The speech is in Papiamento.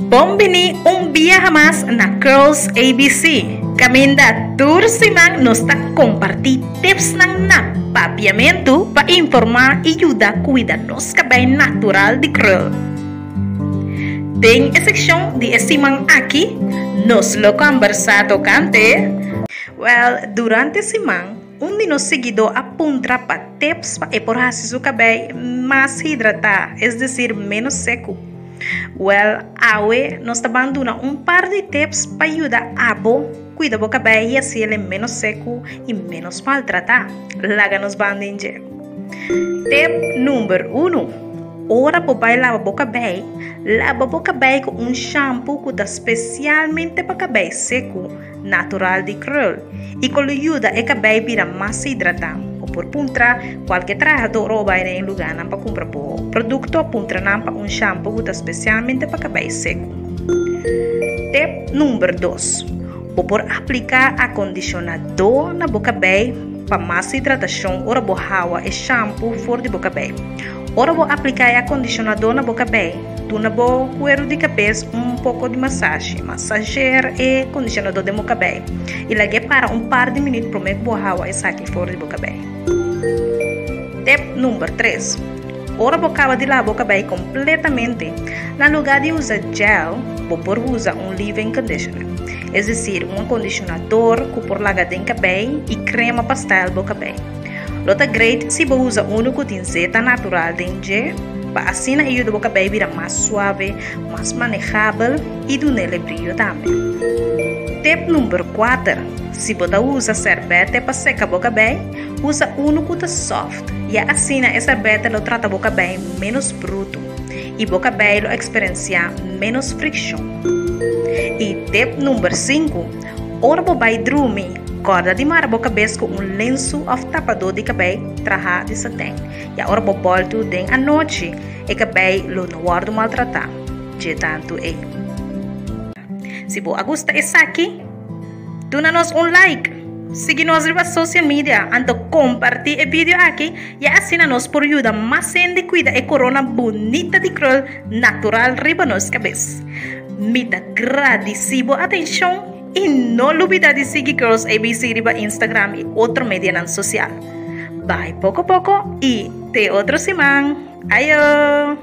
Bon bini un biaha mas na Curls ABC. Caminda tur siman nos ta comparti tipsnan na papiamentu pa informa y yuda cuida nos cabei natural di krul. Den e seccion di e siman aki nos lo combersa tocante. Well, durante siman. Un di nos seguidó a puntra pa tips pa e por hasi su cabei mas hidratá, es decir menos secu. Well, awe nos ta ban duna un par di tips pa yuda abo cuida bo cabei y hasi el e menos secu y menos maltratá. Laga nos ban den dje. Tip number uno, Ora bo bai laba bo cabei, laba bo cabei cu un shampoo cu ta specialmente pa cabei secu. natural di krul i ku lo yuda e kabei bira mas hidratá. O por puntra kualke trahadó ora bo bai den e lugánan pa kumpra bo produkto, puntra nan pa un shampu ku ta spesialmente pa kabei seku. Tep number dos, Bo por apliká akondishonadó na bo kabei pa mas hidratashon ora bo hawa e shampu for di bo kabei. Ora bo apliká e akondishonadó na bo kabé, duna bo kueru di kabes un poko di masashi. Masashear e kondishonadó den bo kabé i lag'é para un par di minüt promé ku bo hawa esaki for di bo kabé. Tip number tres, Ora bo kaba di lava bo kabé kompletamente, na lugá di usa gel, bo por usa un leave-in conditioner, es desir un akondishonador ku por laga den kabé i krema pa style bo kabé. Lo ta great si bo usa unu ku tin zeta natural den dje, pa asina e yuda bo kabei bira mas suave, mas manejabel i dun'el e brillo tambe. Tip number kuater, Si bo ta usa serbete pa seka bo kabei, usa unu ku ta soft, ya asina e serbete lo trata bo kabei menos brutu i bo kabei lo eksperensiá menos frikshon. I tip number sinku. Ora bo bai drumi, kòrda di mara bo kabes ku un lensu òf tapadó di kabei trahá di satèn. Ya ora bo bòltu den anochi, e kabei lo no wòrdu maltratá. Dje tantu ei. Si bo a gusta esaki, duna nos un like, sigui nos riba social media, anto kompartí e video aki, ya asina nos por yuda mas hende kuida e korona bunita di krul natural riba nos kabes. Mi ta gradisí bo atenshon i no lubidá di sigui Girls ABC riba Instagram i otro medianan sosial. Bai poko poko i te otro siman. Ayo!